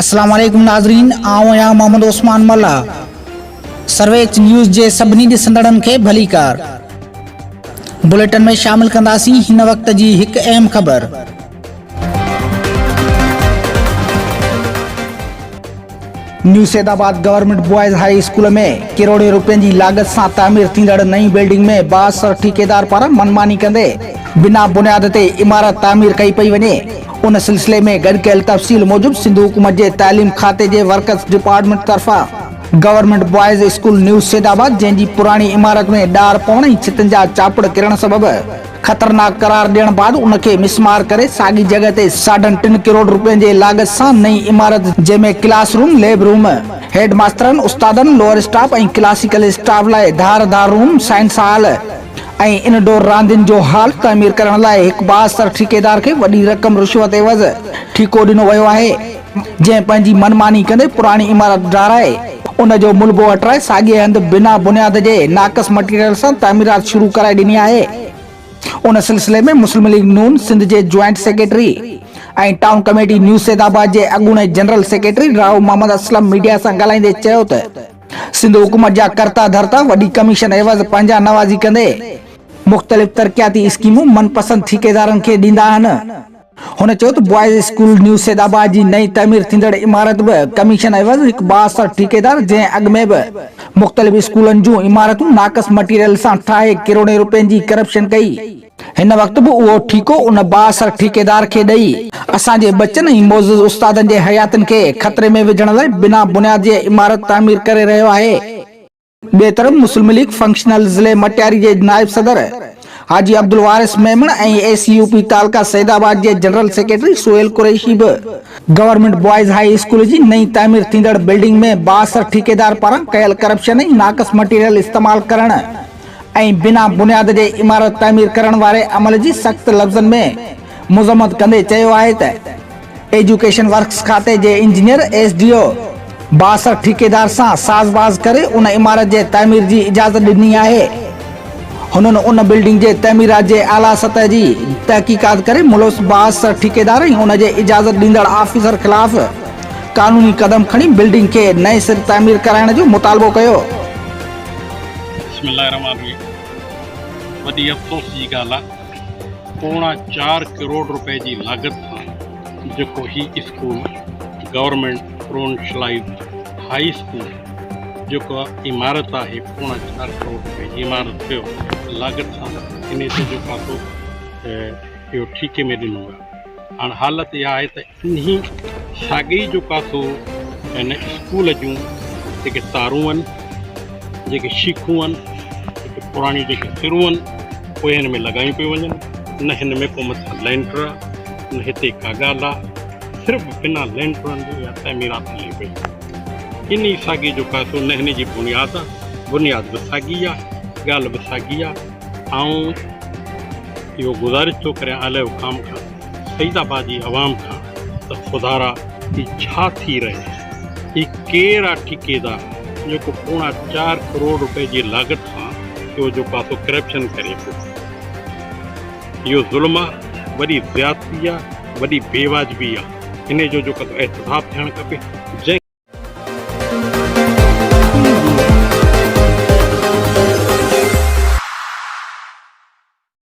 السلام عليڪم ناظرين آئون آهيان محمد عثمان ملا سرويچ نيوز جي سڀني ڏسندڙن کي ڀليڪار بليٽن ۾ شامل ڪنداسين هن وقت جي هڪ اهم خبر New Saeedabad government boys high school ۾ ڪروڙين روپين جي لاڳت سان تعمير ٿيندڙ نئين بلڊنگ ۾ بااثر ٺيڪيدار پاران منماني ڪندي بنا بنياد تي عمارت تعمير ڪئي پئي وڃي ان سلسلي ۾ گڏ ڪيل تفصيل موجب سنڌ حڪومت جي تعليم کاتي جي ورڪس ڊپارٽمينٽ طرفان government boys school New Saeedabad جنهن جي پراڻي عمارت ۾ ڏار پوڻ ۽ ڇتن جا چاپڙ ڪرڻ سبب خطرناڪ قرار ڏيڻ بعد ان کي مسمار ڪري ساڳي جڳهه تي ساڍن ٽن ڪروڙ روپين جي لاڳت سان نئين عمارت جنهن ۾ class room, lab room, head ماسترن، استادن، لوئر اسٽاف ۽ ڪلاسيڪل اسٽاف لاء ڌار ڌار room, science hall ۽ indoor راندين جو هال تعمير ڪرڻ لاء هڪ بااثر ٺيڪيدار کي وڏي رقم رشوت عيوض ٺيڪو ڏنو ويو آهي. جنهن پنهنجي من ماني ڪندي پراڻي عمارت ڊاهرائي ان جو ملبو هٽرائي ساڳئي هنڌ بنا بنياد جي ناقص مٽيريل سان تعميرات شروع ڪرائي ڏني آهي ان سلسلي ۾ مسلم ليگ نون سنڌ جي joint secretary ۽ town committee New Saeedabad جي اڳوڻي general secretary Rahu Muhammad Aslam media سان ڳالهائيندي چيو ته سنڌ حڪومت جا ڪرتا ڌرتا وڏي ڪميشن عيوض پنهنجا نوازي ڪندي مختلف ترقياتي اسڪيمون من پسند ٺيڪيدارن کي ڏيندا آهن. هن چيو ته boys school New Saeedabad جي نئين تعمير ٿيندڙ عمارت به ڪميشن عيوض هڪ بااثر ٺيڪيدار جنهن اڳ ۾ به مختلف اسڪولن جون عمارتون ناقص مٽيريل سان ٺاهي ڪروڙين روپين جي ڪرپشن ڪئي هن وقت به اهو ٺيڪو ان بااثر ٺيڪيدار کي ڏئي اسان جي ٻچن ۽ معزز استادن جي حياتين کي خطري ۾ وجهڻ لاء بنا بنياد جي عمارت تعمير ڪري رهيو آهي. ٻئي طرف مسلم ليگ فنڪشنل ضلعي مٽياري جي نائب صدر Haji Abdulwaris Memon ۽ A C U P تعلقه سيد آباد جي جنرل سيڪريٽري سهيل قريشي به گورنمينٽ بوائز هاء اسڪول جي نئين تعمير ٿيندڙ بلڊنگ ۾ بااثر ٺيڪيدار پاران ڪيل ڪرپشن ۽ ناقص مٽيريل استعمال ڪرڻ ۽ بنا بنياد جي عمارت تعمير ڪرڻ واري عمل جي سخت لفظن ۾ مذمت ڪندي چيو آهي ته ايجوڪيشن ورڪس کاتي جي انجنيئر ايس ڊي او بااثر ٺيڪيدار سان ساز باز ڪري ان عمارت جي تعمير جي اجازت ڏني آهي هنن ان بلڊنگ جي تعميرات جي اعليٰ سطح جي تحقيقات ڪري ملوث بااثر ٺيڪيدار ۽ ان جي اجازت ڏيندڙ آفيسر خلاف قانوني قدم کڻي بلڊنگ کي نئين سر تعمير ڪرائڻ جو مطالبو ڪيو بسم الله الرحمٰن الرحيم وڏي افسوس جي ڳالهه آهي پوڻا چار ڪروڙ روپئي جي لاڳت سان جيڪو هي اسڪول گورنمينٽ پرونشلائيز هاء اسڪول جيڪا عمارت آهي پوڻا چار ڪروڙ روپئي جي عمارت ٿيو لاڳت سان انهي سڄو پاسو اهو ٺيڪي ۾ ڏنو ويو هاڻ حالت اها آهي ته انهي ساڳئي جو ڪاٿو هن اسڪول جون جيڪي تارون هن، جيڪي شيخون هن، جيڪي پراڻيون جيڪي سرون هن، اهي هن ۾ لڳايون پيون وڃن. نه هن ۾ ڪو مٿان لينٽر آ، نه هتي ڪا ڳالهه آ. صرف بنا لينٽرن جي اها تعميرات هلي پئي. انهي ساڳئي جو ڪاٿو نه هن جي بنياد آ، بنياد به ساڳي آ، ڳالهه به ساڳي آ. آئون اهو گذارش ٿو ڪريان اعليٰ حڪام کان. سعيد آباد جي عوام کان ته خدارا هي ڇا ٿي رهي آهي هي ڪير آ ٺيڪيدار جيڪو پوڻا چار ڪروڙ روپئي جي لاڳت سان پيو جو پاسو ڪرپشن ڪري پيو اهو ظلم آ وڏي زيادتي آ وڏي بي واجبي آ انهي جو جو ڪتو احتساب ٿيڻ کپي جنهن